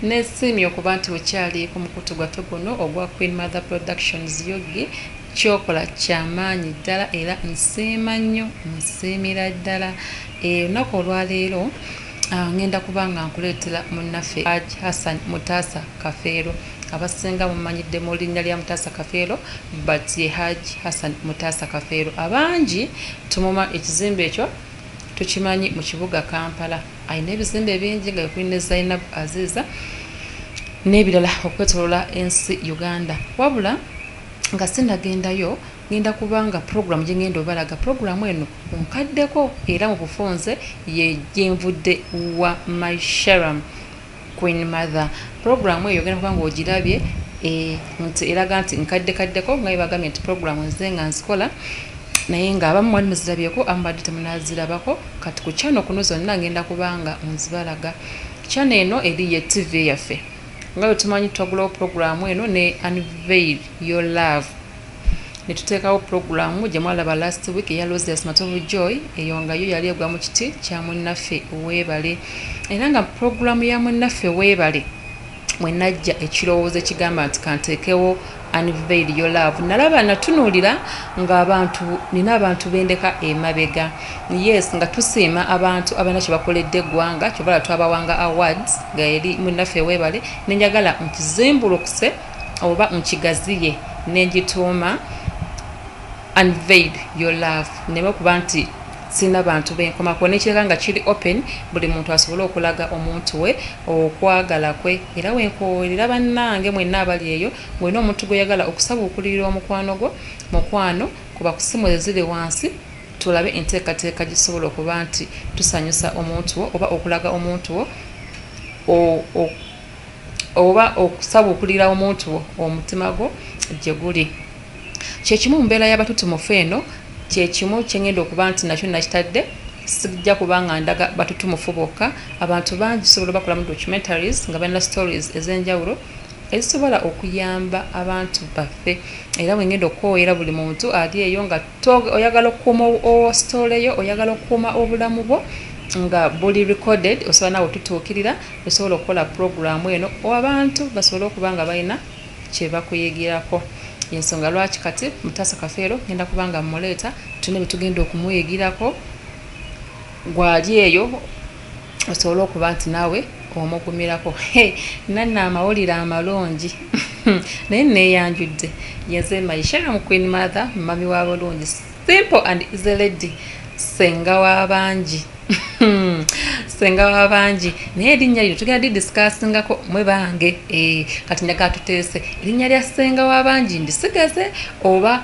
Nesiimye okuba nti okyali ku mukutu gwaffe guno ogwa Queen Mother Productions Yogi kyokola kyamaanyi ddala era nsiima nnyo nsiimira ddala olunaku olwaleero Ah, ngenda kuba nga nkuleetera munnaffe aj hassan mutaasa kafeero abasinga mumanyidde mu linnya lya mutaasa kafeero but ye haj hassan mutaasa kafeero abangi tumuma ekizimbe ekyo tukimanyi mu kibuga kampala alina ebizimbe bingi nga ekuli ne zainab aziiza n'ebirala okwetolola ensi uganda wabula nga sinagendayo ngenda kubanga puroguramu gyengenda obalaga puroguramu eno onkaddeko era mu bufunze ye gyenvudde wa mysharam Queen mother program eyo ogenda kubanga ogirabye eh, nti eraga nti nkadde kaddeko nga yebagambye nti program nze nga nzikola naye nga abamu mwali muzirabyeko amubadde temunazirabako kati ku kyano kuno zonna ngenda kubanga nzibalaga kyano eno eri ye tv yaffe nga bwe tumanyi twagulawo program eno ne unveil your love ne tuteekawo pulogulaamu gye mwalaba last week eya Rosias Matovu Joy eyo nga yo yali egwa mu kiti kya munnaffe weebale era nga pulogulaamu ya munnaffe weebale mwe najja ekirowoozo ekigamba nti kanteekewo unveil your love nalaba natunuulira ng'abantu nina abantu bendeka emabega yes nga tusiima abantu abalina kye bakoledde eggwanga kyovala twabawanga awards nga eri munnaffe weebale nenjagala nkizimbulukuse oba nkigaziye nengituuma unveil your love neme okuba nti sirina bantu benkomako nekiraga nga kiri open buli muntu asobole okulaga omuntu we okwagala kwe era wenkowerera bannange mwenna abali eyo ngolina omuntu gweyagala okusabuukulirira omukwano gwo mukwano kuba kusimu eziri wansi tulabe enteekateeka gisobola okuba nti tusanyusa omuntu wo oba okulaga omuntu wo oba okusabukulira omuntu wo omutima gwo gye guli kyekimu mu mbeera y'abatutumufu eno kyekimu kyengenda okuba nti nakyo nakitadde sijja kubanga ndaga batutumufu bokka abantu bangi sobola bakolamu documentaries nga balina stories ez'enjawulo ezisobola okuyamba abantu baffe era bwengenda okukowoyera buli muntu ali eyo nga Tog oyagala okukuuma story yo oyagala okukuuma obulamu bwo nga buli recorded osobola nawe otutuukirira osobola okukola puroguramu eno abantu basobole okuba nga balina kyebakuyigirako yensonga lwaki kati mutasa kafeero ngenda kuba nga mmuleeta tuna byetugenda okumuyigirako gwali eyo osobole okuba nti naawe omugumirako he nanna amawulire amalungi naye neyanjudde yenze maisheramu queen mother mumami wa bulungi simple and easy lady senga wabangi senga wabangi naye erinnya lino tugenda didisikasingako mwe bange eh, kati nyaga tuteese erinnya lya senga wabangi ndisigaze oba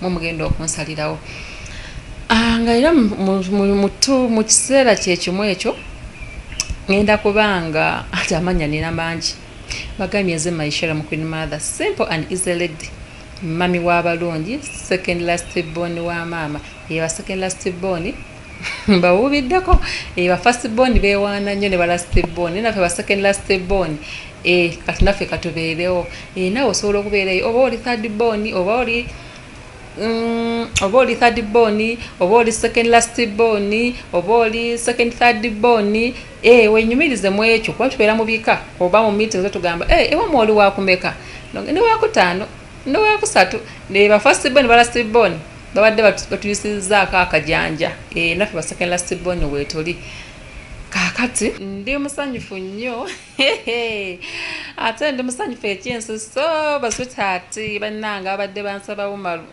mwe mugenda okunsalirawo ah, nga era mutu mu kiseera kyekimu ekyo ngenda kubanga ati amanya nina mangi bagambye nze maishera mu queen mother simple and easy lady mami w'abalungi second last born wa maama yeba second last born mbawuubiddeko eh, ba first born bewaana nnyo ne ba last born naye naffe ba second last born eh, kati naffe katubeerewo eh, nawe osobola okubeerayo oba oli third born oba oli mm, oba oli third born oba oli second last born oba oli second third born eh, wenyumirize mu ekyo kuba tubeera mu bika oba mu meeting zotugamba eh, ewa mwoli wakumeka newakutaano newakusatu ne ba first born ne ba last born babadde batuyisizaako akajanja eh, naffe baseke lastbon wetuli kakati ndi musanyufu nnyo ate ndi musanyufu ekyensi so baswitaati bannanga abadde bansaba umaru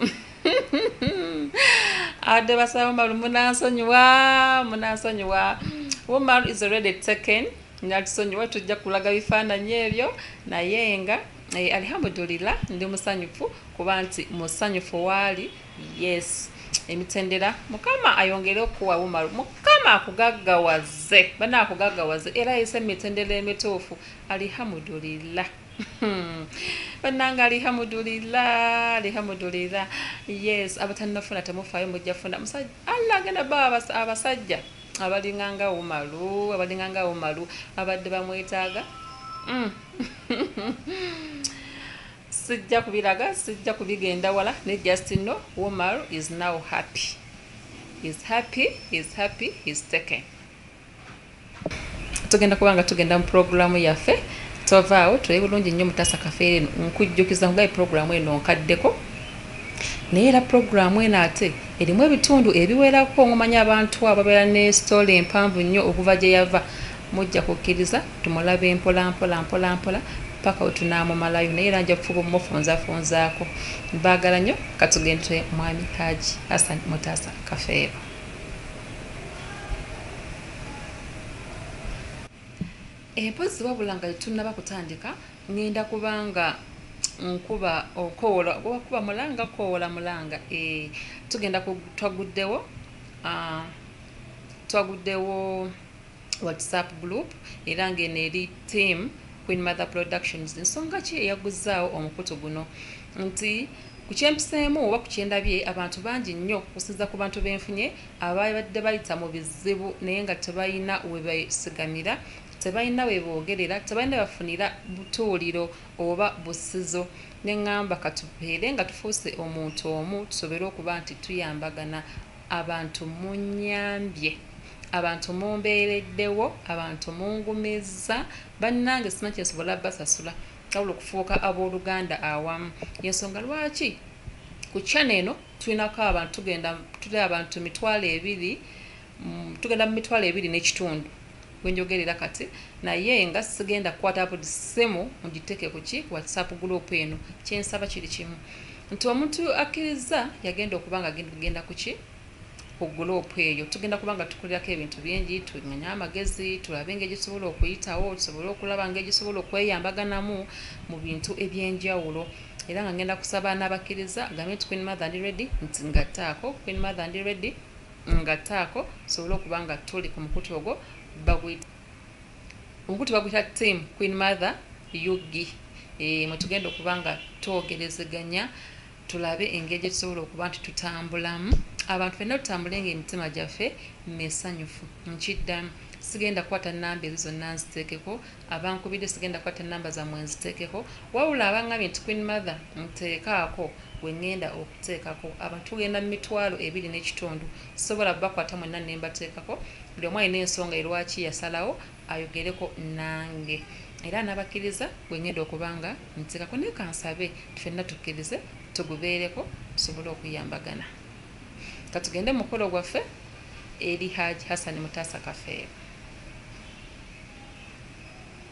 abadde basaba umaru munansonyiwa munansonyiwa umaru is already taken natusonyiwa tujja kulaga bifaananyi ebyo naye nga Eh, alihamudulila ndi musanyufu kuba nti musanyufu waali yes emitendera mukama ayongere okuwa umaru mukama akugaggawaze bana akugaggawaze era yise emitendera emituufu alihamudulila hmm. bananga alihamudulila alihamudulila yes abatanafuna temufayo mujja funa musajja allah agenda ba abasajja Abalinga nga umalu abalinga nga umalu abadde bamwetaaga sijja kubilaga sijja kubigenda wala ne just know umalu is now happy is happy is happy is taken tugenda kubanga tugenda mu programu yaffe tovaawo tuli bulungi nnyo mutasa kafeere nkujjukiza nkugaye programu eno nkaddeko Naye era pulogulaamu eno ate erimu ebitundu ebiwerako omumanyi abantu abo babeera ne sitole mpanvu nnyo okuva gye yava mujja kukkiriza tumulabe mpolampola mpolampola paka we tunaamumalayo naye era nja kufuba omumufunzafunzaako mbaagala nnyo katugende mwami Haji Hassan Mutaasa Kafeero. Empozi wabula nga tetunnaba kutandika. Ngenda kuba nga nkuba okowola oba kuba mulanga kowola mulanga ee eh, tugenda twaguddewo ah, twaguddewo whatsapp group era ng'eno eri team queen mother productions nsonga ki eyaguzzaawo omukutu guno nti ku kyempiseemu oba ku kyendabye abantu bangi nnyo kusinza ku bantu benfunye ababadde bayita mu bizibu naye nga tebalina webesigamira Tebalina we boogerera, tebalina we bafunira butuuliro oba bussizo. Ne ŋŋamba ka tubeere nga tufuuse omuntu omu tusobole okuba nti tuyambagana. Abantu munnyambye. Abantu mumbeereddewo. Abantu mungumizza. Bannange sirina kye nsobola bbasasula wabula okufuuka abooluganda awamu. Y'ensonga lwaki ku channel eno tulinako abantu tugenda, tuli abantu mitwalo ebiri, tugenda mu mitwalo ebiri n'ekitundu. gwe njogerera kati naye nga sigenda kukwata buli ssimu mugiteeke ku ki whatsapp group eno kyensaba kiri kimu nti omuntu akkirizza yagenda okuba nga genda ku ki ku guloopu eyo tugenda kuba nga tukolerako ebintu bingi tumanye amagezi tulabe nga egisobola okuyitawo tusobole okulaba nga egisobola okweyambaganamu mu bintu ebyenjawulo era nga ngenda kusaba n'abakkiriza gambe nti queen mother ndi ready nti ngattaako queen mother ndi ready Ngatte ako tusobole okuba nga tuli ku mukutu ogwo baguyita omukutu baguyita team queen mother ug e, eh, mwetugenda okuba nga twogerezeganya tulabe engeri gyetusobola okuba nti tutambulamu abantu fenna tutambule nga emitima gyaffe mesanyufu nkiddamu sigenda kukwata namba ezo zonna nziteekeko abankubidde sigenda kukwata namba zamwe nziteekeko wabula abangambye nti queen mother nteekaako gwe ngenda teekako abantu mugenda mu mitwalo ebiri n'ekitundu sisobola kubakwata mwenna ne mbateekako, buli omu alina ensonga ye lwaki yasalawo ayogereko nange era anabakkiriza gwe ngenda okuba nga nteekako naye kansabe ffenna tukkirize tugubeereko tusobole okuyambagana katugende mu mukolo gwaffe eri Hajj Hassan Mutaasa Kafeero.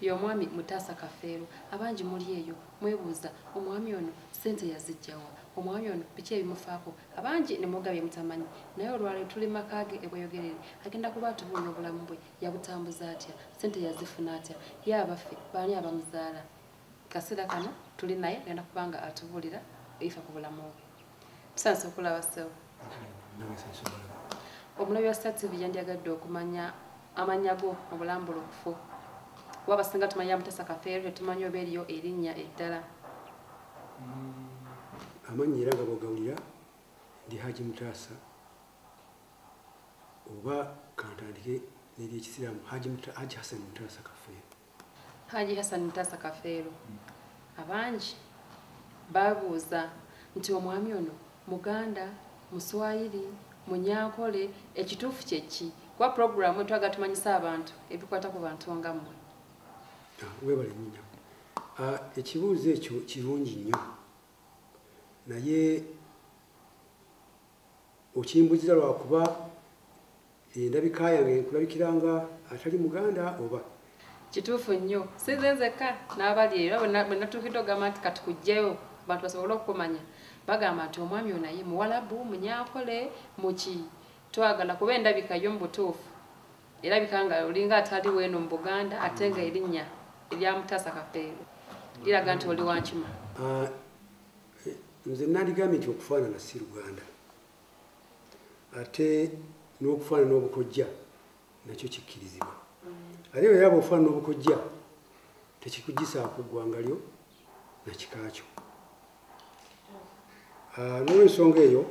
Ye omwami Mutaasa Kafeero abangi muli eyo mwebuuza omwami ono ssente yazijja wa? Omwami ono biki ebimufaako? Abangi ne mwogera bye mutamanyi naye olwaleero tuli mu maka ge e Bweyogerere agenda kuba atubuulira obulamu bwe yabutambuza atya, ssente yazifuna atya, ye abaffe baani abamuzaala? Mu kaseera kano tuli naye agenda kuba nga atubuulira ebifa ku bulamu bwe. Sasa kulaba sewo. Omulabi wa Star TV yandyagadde okumanya amannya go mu bulambulukufu. Kuba abasinga tumanya Mutesa Kafeero tetumanyi oba eriyo erinnya eddala. Mm, amannya era nga bwogawulira ndi Haji Mutasa oba kantandike neryekisiraamu Haji Hassan Mutasa Kafeero. Haji Hassan Mutasa Kafeero abangi babuuza nti omwami ono muganda muswayiri munyankole ekituufu kyeki kuba puroguramu etwaga tumanyisa abantu ebikwata ku bantu nga mmwe ah, webale nyina ah, ekibuuzo ekyo kirungi nnyo naye okimbuziza lwakuba endabika yange nkulabikira nga atali muganda oba kituufu nnyo sinze nzekka n'abali era bwenatuukidde ogamba nti kati kujjayo bantu basobole okukumanya bagamba nti omwami onaye muwalabu munyakole muki twagala kuba endabika yo mu butuufu erabika nga olinga atali weeno mu buganda ate nga erinnya eryamutaasa kapeero liraga nti oli wankima ah, nze nandigambye nti okufaanana si luganda ate n'okufaanana obukojja nakyo kikkirizibwa ate bwe yaba ofaanana obukojja tekikugisaako ggwanga lyo na kika kyo ah, n'olwensonga eyo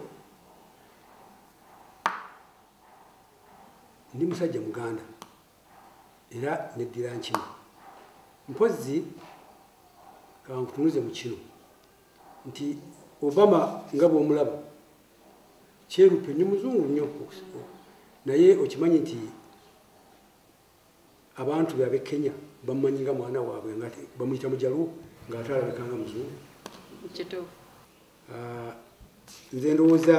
ndi musajja muganda era neddira nkima mpozzi kankutunuze mu kino nti obama nga bwomulaba kyerupe nyo muzungu nnyo naye okimanyi nti abantu beabe kenya bamumanyi nga mwana waabwe nga bamuyita mujalwo ngaate alabika nga muzungu ah, nze ndowooza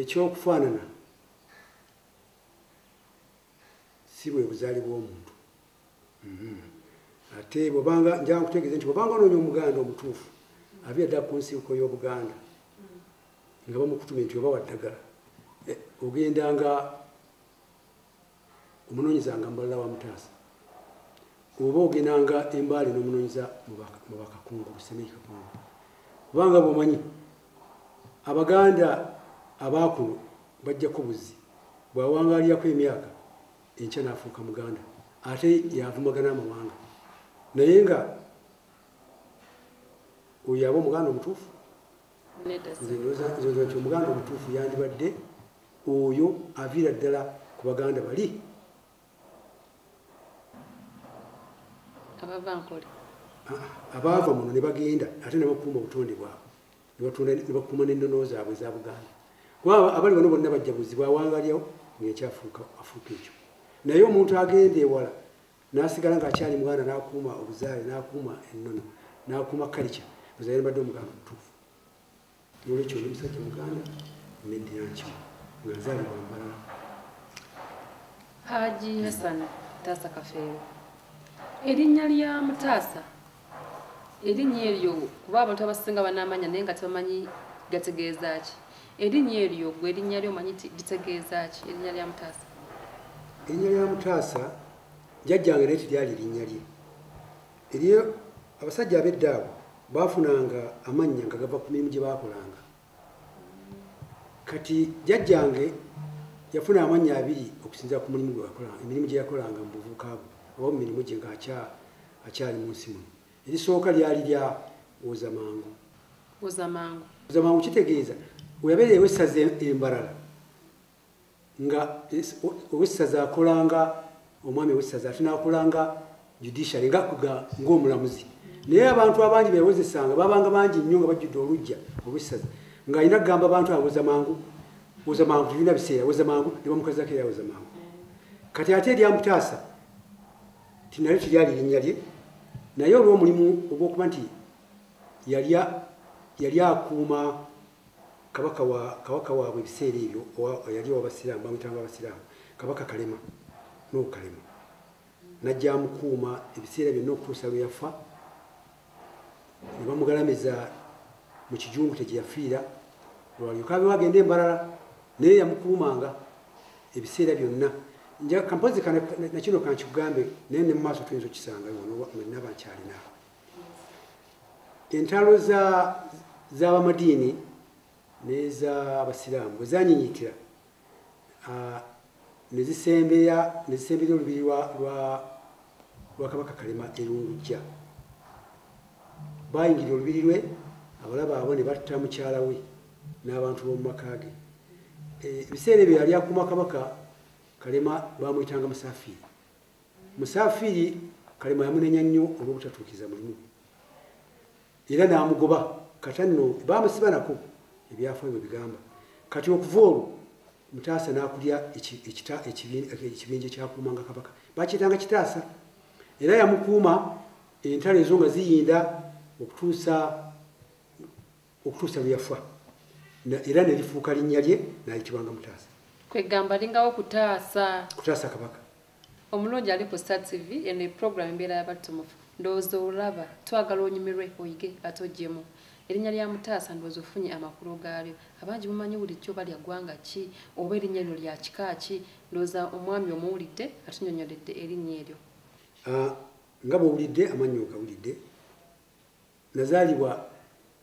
ekyokufaanana si bwe buzaali bw'omuntu mm-hmm. ate bwobanga njaa nkutegeeze nti bwobanga onoonya omuganda omutuufu abeera ddala ku nsibuko y'obuganda nga bamukutume nti oba waddagala eh, ogenda nga omunoonyeza nga mbalala wa mutaasa oba ogendanga embaale n'omunoonyeza mu bakakungu busemei kakungu kubanga bwomanyi abaganda abaakuno bajjako buzzi bwawangaalirako emyaka enkya n'afuuka muganda ate yavumagana amawanga naye nga oyo aba omuganda omutuufu nze ndowooza nti omuganda omutuufu yandibadde oyo aviira ddala ku baganda bali abaava muno ne bagenda ate ne bakuuma obutonde bwabwe ne bakuuma n'ennono zaabwe eza buganda kuba abali bano bonna bajja buzibu awangalyawo ng'ekyafuuka afuuka ekyo naye omuntu agenda ewala n'asigala ng'akyali muganda n'akuuma obuzaale n'akuuma ennono n'akuuma kalica ozaire mbadde omuganda omutuufu nolwekyo oli musajja muganda medinaki nga nzalibwa mbalala haji hasana taasa kafeero erinnya lya mutaasa erinnya eryo kuba abantu abasinga banamanya naye nga tebamanyi gategeeza ki erinnya eryo gwe erinnya lyo omanyi litegeeza ki erinnya lya mutaasa erinnya lya mutaasa jajjange naye tiryali erinnya lye Eriyo abasajja ab'edda abo baafunanga amannya nga gava ku mirimu gye baakolanga. Kati jjajjange yafuna amannya abiri okusinzira ku mulimu gwe yakolanga, emirimu gye yakolanga mu buvubuka bwe oba mu mirimu gye ng'akyali mu nsi muno. Erisooka lyali lya Wozamangu. Wozamangu kitegeeza we yabeera ew'essaza e Mbarara. nga owessaza akolanga omwami owessaza ate nakolanga judiciary nga ngaomulamuzi naye abantu abangi bewozesanga babanga bangi nnyo nga bajjudde olujja olwessaza ngaalina kugamba abantu awoza mangu woza mangu tulina biseera woza mangu ne bamukazako era awoza mangu kati ate eryamutaasa tinalyo tiryali linnya lye naye olwomulimu ogwokuba nti yali akuuma kabaka wa kabaka waabwe ebiseera ebyo yali owabasiraamu bamuyitanga abasiraamu kabaka kalema nuhu kalema najja amukuuma ebiseera byonna okutuusa lwe yafa ne bamugalamiza mu kijungu kye gyeyafiira lwalyoka abewo agenda embalala naye yamukuumanga ebiseera byonna nja kampozi nakino kankikugambe naye ne mu maaso tuyinza okukisangayo naba nkyalinaako entalo z'abamadiini n'ez'abasiraamu bwe zanyinyitira ne zisembeya ne zisembeya olubiri lwa kabaka kalema erungujja bayingira olubiri lwe abalaba abo ne batta mukyala we n'abantu b'omu maka ge e, ebiseera ebyo yali akuma kabaka kalema bamuyitanga musafiri Musafiri kalema yamunenya nnyo olw'obutatuukiza mulimu gwe era n'amugoba kata nno baamusibanako ebyafayo bwe bigamba kati okuva olwo mutaasa n'akulya ekibinja ekyakuumanga kabaka bakiyitanga kitaasa era yamukuuma entalo ezo nga ziyinda okutuusa okutuusa lwe yafa era ne lifuuka linnya lye n'ayitibwanga mutaasa kwegamba lingawo kutaasa kutaasa kabaka omulungi ali ku star tv eno eprogramu embeera yabattumufu ndowooza olaba twagala onyumirwe oyige ate ojjemu erinnya lya mutaasa ndowooza ofunye amakulu gaalyo abangi mumanyi bulijjo oba lya ggwanga ki oba erinnya lino lya kika ki ndowooza omwami omuwulidde atunyonyoledde erinnya eryo ah, nga bwowulidde amannyo ogawulidde nazaalibwa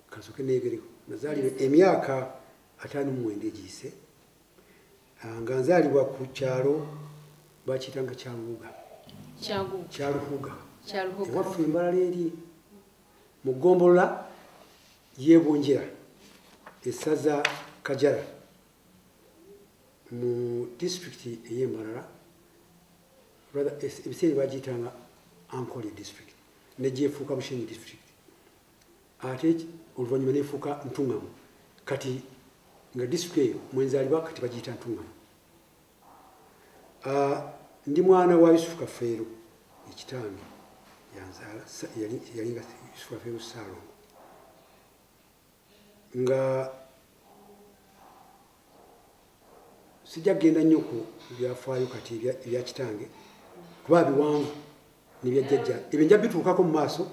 kasoke neegereko nazaalibwa emyaka ataano mumwenda egiyise ah, nga nzaalibwa ku kyalo bakiyita nga kyaluhuga kyaluhuga ewaffe embalala eri mu ggombolola yebunjira esaza kajara mu disitulikiti ey'embalala ebiseera bagiyitanga ankole disitulikiti negyefuuka bushenyi district ate oluvanyuma nefuuka ntungamu kati nga district eyo mwenzalibwa kati bagiyita ntungamu ah, ndi mwana wa yusufu kafeero ekitange yanzaala yalinga yusufu kafeero saalongo nga sijja kugenda nnyo ku byafaayo kati ebya kitange kuba biwanvu nebyajjajja ebyo nja bituukako mu maaso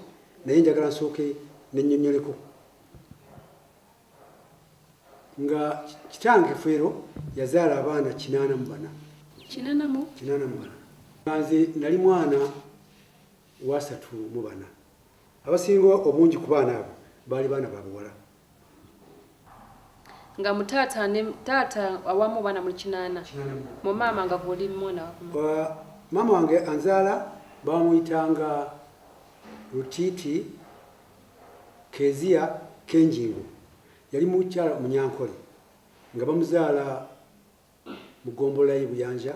naye njagala nsooke nenyonyoleko nga kitange feero yazaala abaana kinaana mu bana kinaana mu bana nze nali mwana wasatu mu bana abasinga obungi ku baana abo baali baana babuwala nga mutaata ne taata awamu baana mu kinaana mu maama nga guli mwana maama wange anzaala bamuyitanga rutiiti keziya kenjingo yali mukyala munyankole nga bamuzaala mu ggombolola ye Buyanja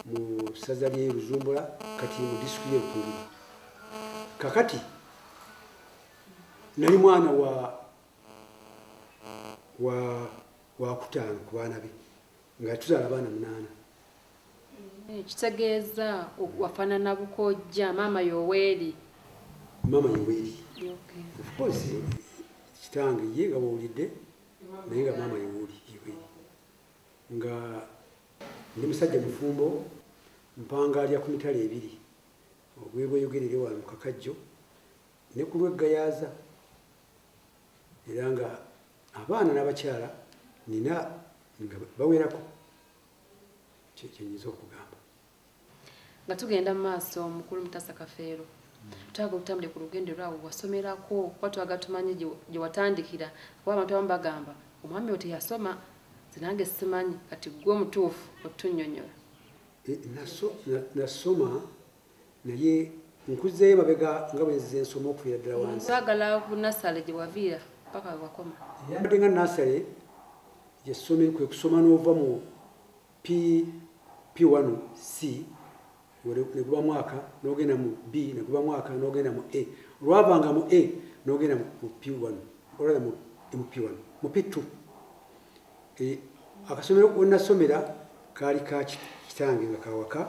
mu ssaza ly'e Luzumbula kati mu disitulikiti y'e Rukungiri. Kakati nali mwana wa wa wakutaano ku baana be nga tuzaala abaana munaana. Ekitegeeza wafaanana bukojja maama Yoweeri. Maama Yoweeri. Of course kitange ye nga bwowulidde naye nga maama Yoweeri. nga ndi musajja mufumbo mpangaalya ku mitala ebiri ogwebweyogerere wano mukakajjo ne ku lweggayaaza era nga abaana n'abakyala nina nga bawerako kyenyinza okugamba nga tugenda mu maaso mukulu mutasa kafeero twaga otambule ku lugendo lwawo wasomerako kuba twaga tumanyi gye watandikira kuba abantu abamu bagamba omwami oyo teyasoma zinange simanyi kati gwe omutuufu otunyonyola eh, nasoma naye nkuzeeyo mabega nga bwenzize ensoma okuviira ddala wansi twagala ku nasale gye waviira paka wakoma yambadde nga nasale gyesomeri kwe kusoma n'ovamu PP1 C ne guba mwaka n'ogenda mu B ne guba mwaka n'ogenda mu A olwavanga mu A n'ogenda mu P1 olwala mu P1 mu P2 eh, akasomero wennasomera kaali ka kitange nga kawaka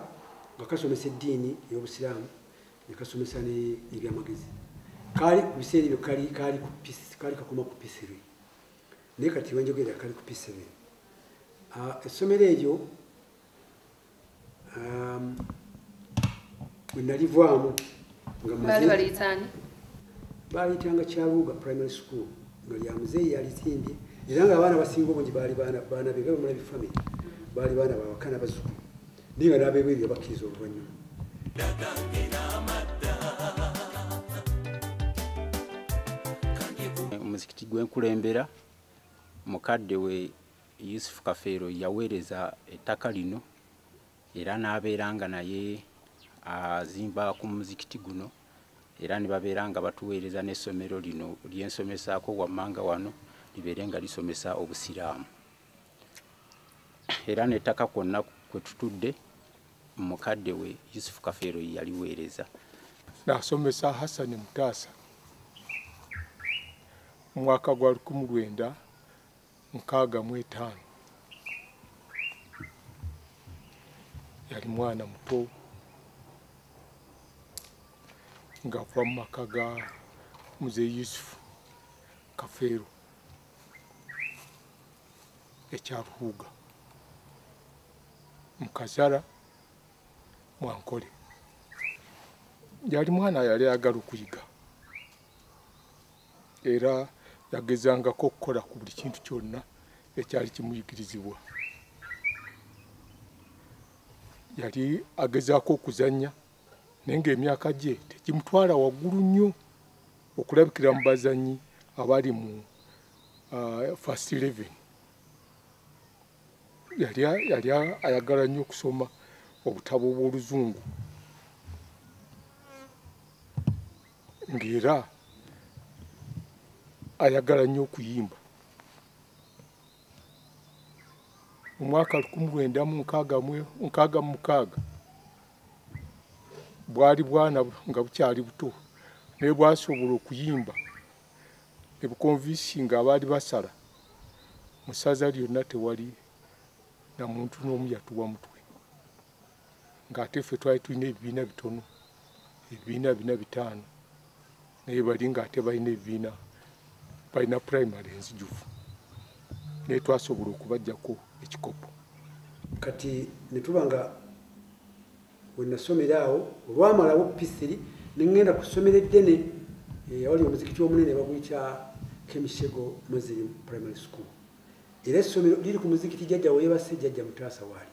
nga kasomesa eddiini ey'obusiraamu ne kasomesa n'ebyamagezi kaali ku biseera ebyo kaali kakoma ku P3 naye kati wenjogerera kali ku p7 ah, essomero eryo um, wenalivaamu baaliyitanga kyaluuga primary school nga lya muzeeyi yalizimbye era nga abaana basinga obungi baali baana be bamulabi famiry baali baana bawakana bazukulu naye nga n'abeebweru yabakkiriza oluvannyuma omuzikiti gwe nkulembera mukadde we yusufu kafeero yaweereza ettaka lino era n'abeera nga naye azimba ku muzikiti guno era ne babeera nga batuweereza n'essomero lino lyensomesaako wammanga wano libeere nga lisomesa obusiraamu era n'ettaka kwonna kwe tutudde mukadde we yusufu kafeero ye yaliweereza nasomesa hassani mutaasa mu mwaka gwa lukumu lwenda nkaaga mu etaano yali mwana muto ng'ava mu maka ga muze yusufu kafeero ekya ruhuuga mukazara mwankole yali mwana yali ayagala okuyiga era yagezangako okukola ku buli kintu kyonna ekyali kimuyigirizibwa yali agezaako okuzannya naye ng'emyaka gye tegimutwala waggulu nnyo okulabikira mu bazanyi abali mu uh, first eleven yali yali ayagala nnyo okusoma obutabo bw'oluzungu ng'era ayagala nnyo okuyimba mu mwaka lukumi lwenda mu nkaaga mu mukaaga bwali bwana nga bukyali buto naye bwasobola okuyimba ebukonvisi nga abaali basala mu ssaza lyonna tewali na muntu n'omu yatuwa mutwe ng'ate ffe twali tulina ebibiina bitono ebibiina bina bitaano naye bali ng'ate balina ebibiina balina primary enzijuvu naye twasobola okubajjako ekikopo kati netuba nga wenasomera awo olwamalawo pisiri nengenda ku ssomero eddene eh, awali omuzikiti omunene baguyita kemishego muslim primary school era essomero liri ku muzikiti jajja weyebase jajja mutaasa waali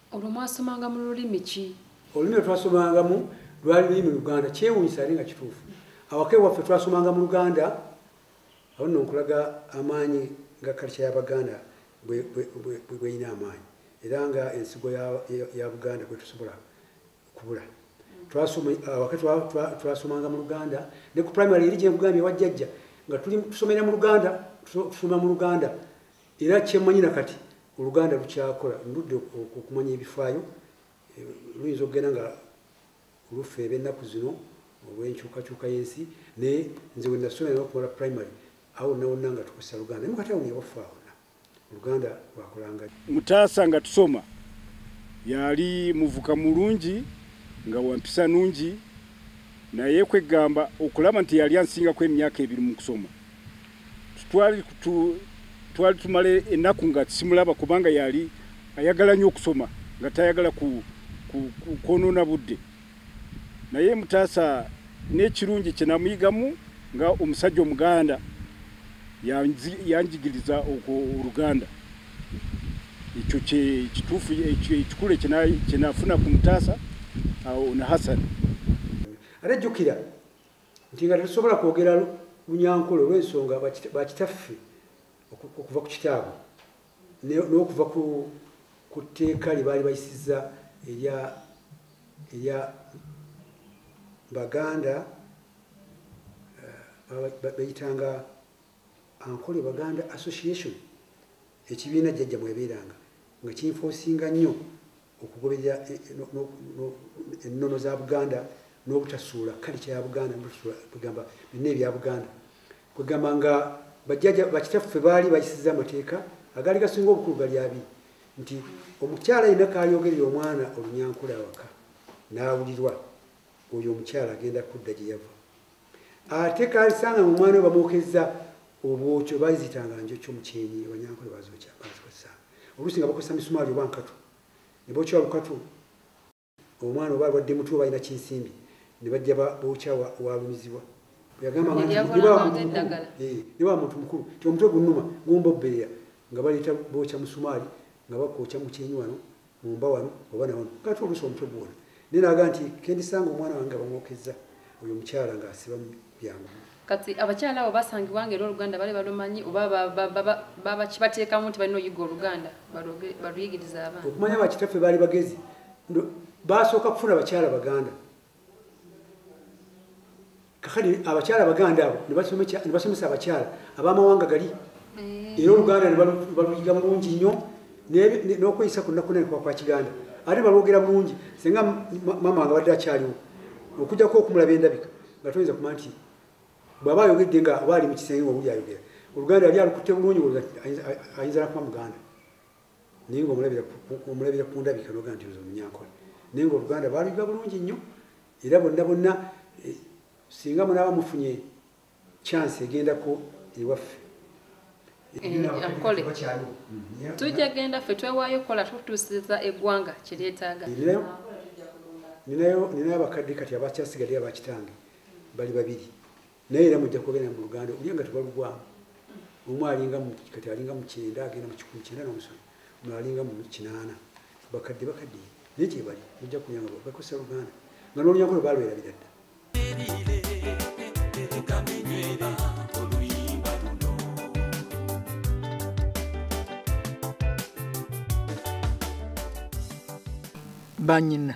olwo mwasomanga mu lulimi ki olulimi lwetwasomangamu lwali lulimi luganda kyewunyisa ali nga kituufu awaka ewaffe twasomanga mu luganda awo nno nkulaga amaanyi nga kalca yabaganda bweyina amaanyi era nga ensigo ya buganda kwetusobola kubula awaka twasomanga mu luganda ne ku primary eri gyenkugambye wajjajja nga tusomera mu luganda tusoma mu luganda era kyemanyi na kati oluganda lukyakola ndudde okumanya ebifaayo eh, luyinza okugenda nga oluffe ebennaku zino olwenkyukakyuka yensi naye nze wenasoma era okumala primary awo nawonna nga tukozesa luganda naye mukati awunyewaffe awona oluganda lwakolanga mutaasa nga tusoma yali muvuka mulungi nga wampisa nungi naye kwegamba okulaba nti yali ansingako emyaka ebiri mu kusoma twali twali tumala ennaku nga simulaba kubanga yali ayagala nnyo okusoma nga tayagala kwonoona budde naye mutaasa n'ekirungi kye namuyigamu nga omusajja omuganda yanjigiriza okwo oluganda ekyo kituufu ekikulu kyenafuna ku mutaasa ono hasani ate jjukira nti nga tetusobola kwogera lunyankole olw'ensonga bakitaffe okuva ku kitaabwe n'okuva ku tteeka lye baali bayisiza erya baganda eh, bayitanga ankole baganda association Ekibiina jjajja mwebeeranga nga kinfoosinga nnyo okugoberera e, e, ennono za Buganda n'obutasuula kalica ya Buganda kwegamba byonna ebya Buganda kwegamba nga bajjaja bakitaffe baali bayisiza amateeka agaali gasinga obukulu gali abiri nti omukyala yenna kaayogerera omwana olunyankula awaka n'awulirwa oyo omukyala agenda kudda gye yava ate kansanga mu mwana bamukezza obwokyo bazitanga njokyo mukyenyi abanyankole bazokya bazikozesa oluusi nga bakozesa misumaali oba nkatu ne bokya lukatu omwana oba alwadde mutu oba alina kinsimbi ne bajja bokya walumizibwa yagambaniba eh, muntu mukulu ti omutwe gunuma gumbobbeera nga baleeta bokya musumaali nga bakwokya mukyenyi wano mumba wano oba nawano kati oluusi omutwe gwona naye naga nti kendisanga omwana wange abamwokezza oyo omukyala nga asiba byangu kati abakyala abo basangibwa nga era oluganda bali balumanyi oba bakibateekamu nti balina oyiga oluganda baluyigiriza abaana okumanya bakitaffe baali bagezi basooka kufuna bakyala baganda kakati abakyala abaganda abo nebasomesa abakyala abamawanga gali eh. era oluganda nebaluyiga mulungi nnyo n'okweyisa ku nnaku nene kwa kiganda ate balwogera bulungi singa mama nga badde akyaliwo okujjako okumulaba endabika nga toyinza kuma nti bwaba ayogedde nga oba ali mu kisenge nga owuli ayogera oluganda yali alukutte bulungi ayinza nakuba muganda naye nga omulabira ku ndabika noga nti ozo munyankole naye nga oluganda baluyiga bulungi nnyo era bonna bonna eh, singa munaaba mufunye chance egendako ewaffe akole mm-hmm. tujja genda ffe twewaayo okukola tutuusiza eggwanga kyeryetaaga ninayo abakadde kati abakyasigadde abakitange bali babiri naye era mujja kugenda mu luganda olya nga tebalugwamu omu alinga kati alinga mukyenda agenda mukikumi kyenda nomusolo omu alinga mu kinaana bakadde bakadde naye kyebali mujja kuyanga bakosa luganda nga nolunyaku lwe balwerabira dda banyina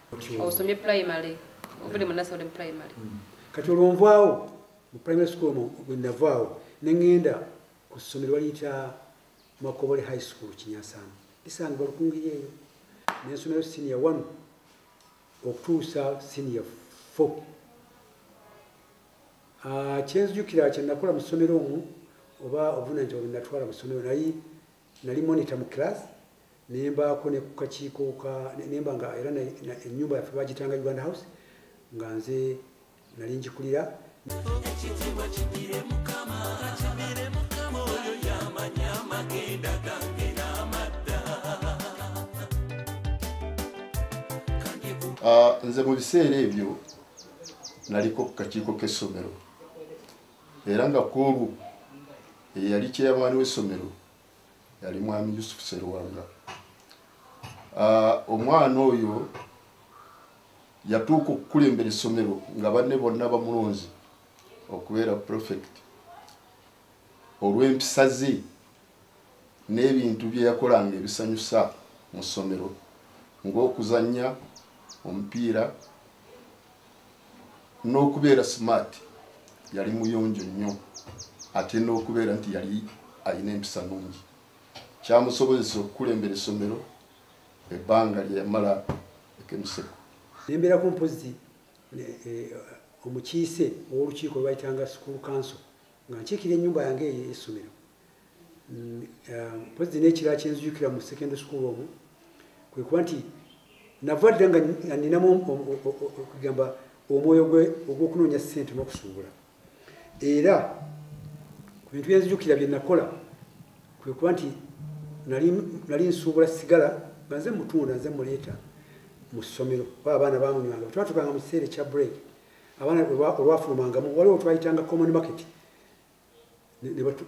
osomye primary obude munasa oli mu primary hmm. kati olwonvaawo mu primary school bwenavaawo nengenda ku ssomero baliyita makobole high school kinyasamu isanga balukungiri eyo nensomero senior one okutuusa senior four ah, kyenzijukira kyenakola mu ssomero omu oba obuvunanyizibwa bwenatwala mu ssomero naye nali monitor mu class nembaako ne kukakiiko ka nemba nga era ennyumba yaffe bagitanga uganda house nga nze nali ngikulira ekitiibwa kigire mukama kigire mukama oyo yamanya amagenda gange n'amadda ah, nze mu biseera ebyo naliko ku kakiiko k'essomero era nga kwolwo eyali kyeyamaani w'essomero yali mwami yusufu seruwanga ah, omwana oyo yatuuka okukulembera essomero nga banne bonna bamulonzi okubeera profect olw'empisa ze n'ebintu bye yakolanga ebisanyusa mu ssomero ng'okuzannya omupiira n'okubeera smart yali muyonjo nnyo ate n'okubeera nti yali alina empisa nungi kyamusobozesa okukulembera essomero ebbanga lyeyamala ekemuseko nembeera ku mpozzi eh, omukiise ow'olukiiko lwebayitanga school council nga nkiikira ennyumba yange eyo essomero mpozi nekira kyenzijukira mu secondary school omu kwekuba nti nava dda nga ninamu okugamba omwoyo gwe ogwokunoonya sente nokusuubula era ku bintu byenzijukira byenakola kwekuba nti nali nsuubula sigala nga nze mutunda nze muleeta mu ssomero oba abaana bamunywanga twatuganga mu kiseera ekya break abaana olwafulumangamu waliwo twayitanga common market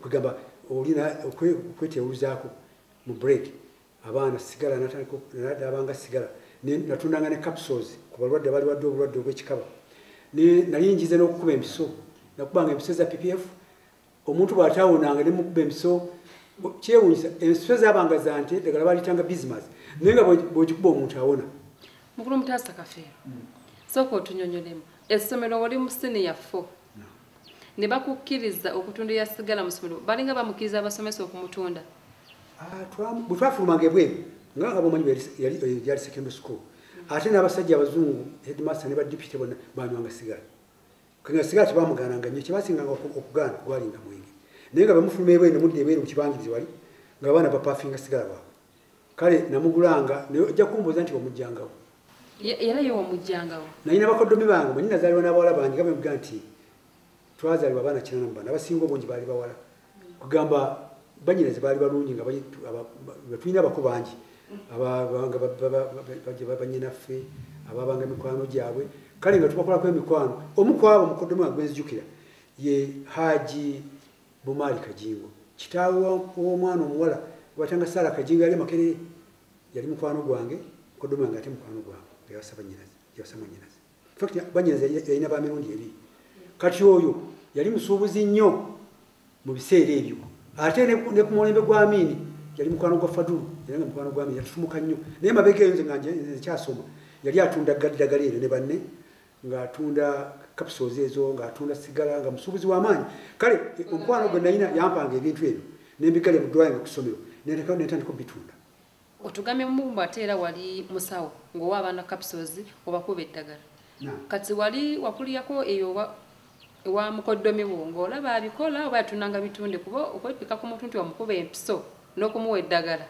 kugamba olina okwetyewuzaako mu break abaana sigala nadabanga sigala natundanga ne capsules ku balwadde bali wadde obulwadde obwekikaba nali njize n'okukuba empiso nakubanga empiso za ppf omuntu bwatawonanga nemukuba empiso kyewunyisa empiso zabanga zante dagala balitanga bismas naye nga bwekikuba omuntu awona mukulu mutaasa kafeero sooka otunyonyolemu essomero wali mu siniya fo ne bakukkiriza okutunda eya sigala mu ssomero balinga bamukkiriza abasomesa okumutunda ah, bwe twafulumanga ebweru nga nga bomanyi yali secondary school ate n'abasajja abazungu headmaster ne ba deputy bona banywanga sigala kanga sigala tebamugaananga nnyo kyebasinganga okugaana gwalinga mwenge naye nga bamufuluma ebweru ne mudda ebweru mu kibangirizi wali nga abaana bapafinga sigala baabwe kale namugulanga naye ojja kumbuuza nti wamujjangawo era ye wamujjangawo naye nabakoddomi bange manyi nazaalibwa n'abawala bangi nga bemga nti twazaalibwa abaana kinana mu bana abasinga obungi baali bawala kugamba banyinaze baali balungi nga tulina abako bangi banyinaffe ababanga emikwano gyabwe kale nga tubakolako emikwano omu kwabo mukoddomi wange gwenzijukira ye haji Bumaali Kajingo kitaawe w'omwana omuwala gwatanga Saala Kajingo yali Makerere yali mukwano gwange kodoma nga ate mukwano gwange yawasa bannyinaze yawasa mwannyinaze fakti bannyinaze yalina ba mirundi ebiri kati oyo yali musuubuzi nnyo mu biseera ebyo ate ne ku mulembe gwa Amiini yali mukwano gwa Fadulu era nga mukwano gwa Amiini yatutumuka nnyo naye mabega eyo nze nga nkyasoma yali atunda gadagala eno ne banne ng'atunda capsules ezo ng'atunda sigala nga musuubuzi w'amaanyi kale omukwano gwe nalina yampanga ebintu ebyo nembigalya mu ddwaliro ku ssomero netandika obitunda otugambye mumumbu ate era wali musawo ng'owa abaana capsules obakuba eddagala kati wali wakuliyako eyo ewa mukoddomi wo ng'olaba abikola oba yatunanga bitunde kuba okwepika ku muntu nti wamukuba empiso n'okumuwa eddagala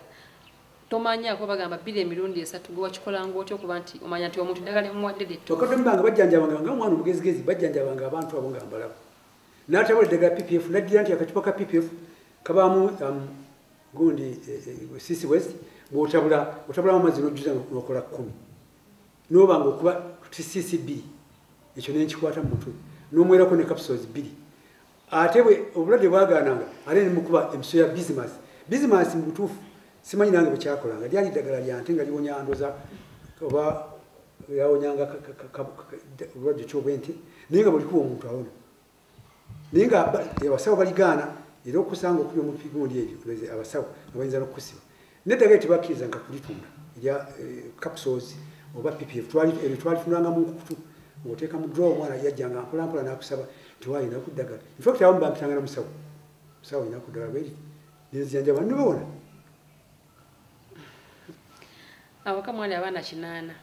tomanyako bagamba bbiri emirundi esatu gwe wakikolanga otya okuba nti omanya nti omuntu ddagala emuwadde lyetokadembanga bajjanjabanga nga omwana omugezigezi bajjanjabanga abantu abo nga mbalaba natabula eddagala ppf naddira nti akacupa ka ppf kabaamu um, gundi eh, eh, sisi west bwotabula otabulamu amazzi nojjuza nokola kkumi nobanga okuba sisi bbiri ekyo nenkikwata mu mutwe nomwerako ne capsules bbiri ate bwe obulwadde bwagaananga ate ne mukuba emiso ya bizimansi bizimansi mu butuufu simanyi nange bwekyakolanga lyali ddagala lya nte nga liwonya ndoza oba yawonyanga obulwadde kyobwe nti naye nga bulikuba omuntu awona naye nga abasawo baligaana era okusanga okubi omupigundi ebyo abasawo nga bayinza n'okukusiba neddagala tebakkiriza nga kulitunda erya eh, capsules oba ppf eryo twalifunanga mu nkukutu ng'oteeka mu draw omwana yajjanga mpolampola n'akusaba tewalina kuddagala infact abamu bampitanga na musawo musawo olina kuddagala bweri nenzijanjaba nobawona awaka mwali abaana kinaana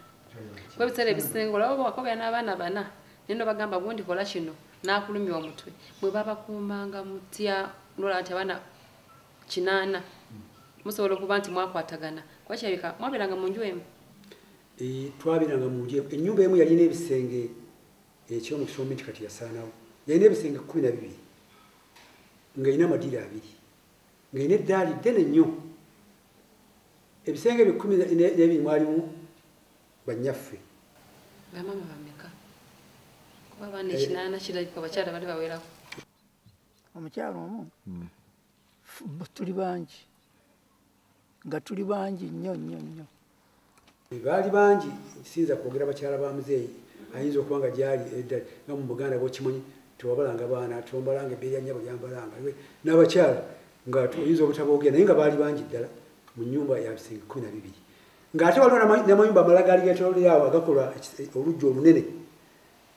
kuba ebiseera ebisinga olaba bwakobera n'abaana bana naye nobagamba gundi kola kino n'akulumya omutwe mwe babakuumanga mutya nolaba nti abaana kinaana musobola okuba nti mwakwatagana kuba kirabika mwabeeranga mu nju emu eh, twabeeranga mu nju ennyumba emu yalina ebisenge ekyomu kisombe nti kati yasaanawo yalina ebisenge kumi na bibiri ng'erina amadiiro abiri ng'erina eddaali ddene nnyo ebisenge ebyo kumi nebiri mwalimu bannyaffe bamaama bameka kuba abaana ekinaana kirabika abakyala bali bawerako omukyalo omu hmm. tuli bangi nga tuli bangi nnyo nnyo nnyo baali bangi siyinza kwogera bakyala ba muzeeyi ayinza okuba nga gyali eddali nga mu buganda bwokimanyi tewabalanga baana tombalanga ebbeeri ya nyabo lyambalanga n'abakyala nga oyinza obutaboogera naye nga baali bangi ddala mu nyumba ya bisenge kumi na bibiri ng'ate waliwo namayumba amala gaali getololeawo agakolwa oluggi olunene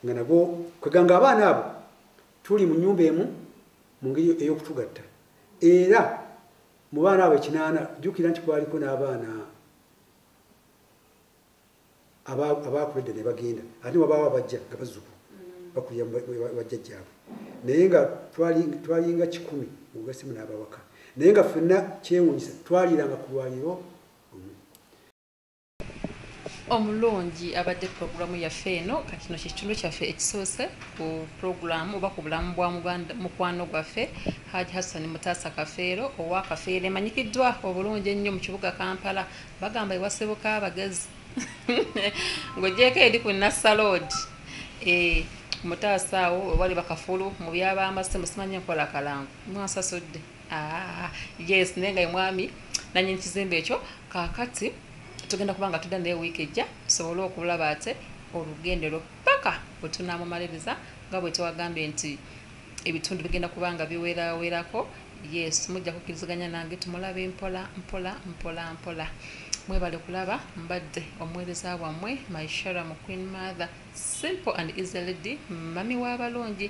nga nago kweganga abaana abo tuli mu nyumba emu mu ngeri ey'okutugatta era mu baana abo ekinaana jjukira nti kwaliko n'abaana abaakuledda ne bagenda ate wabaawo abajja nga bazuku bakulira bajja gyabwe naye nga twalinga kikumi ogasimu n'abawaka naye nga ffenna kyewunyisa twaliranga ku lwaliro omulungi abadde pulogulaamu yaffe eno kakino kyekitundu kyaffe ekisoose ku pulogulaamu oba ku bulamu bwa mukwano gwaffe haji hassan mutaasa kafeero owa kafeero emanyikiddwa obulungi ennyo mu kibuga kampala bagamba ewasibuka abagezi ng'ogyeko eri ku nassaloodi eh, mutaasa awo wali bakafulu mu byabamasimu simanyi enkola kalango mwansasudde Ah, yes naye nga emwami nanyini kizimbe ekyo kakati tugenda kuba nga tudda naye wiiki ejja tusobole okulaba ate olugendero paka bwetunamumaliriza nga bwetwagambye nti ebitundu bigenda kuba nga biwerawerako yes mujja kukiriziganya nange tumulabe mpola mpola mpola mpola mwebale kulaba mbadde omuweereza wammwe myshara mu queen mother simple and easy lady mami w'abalungi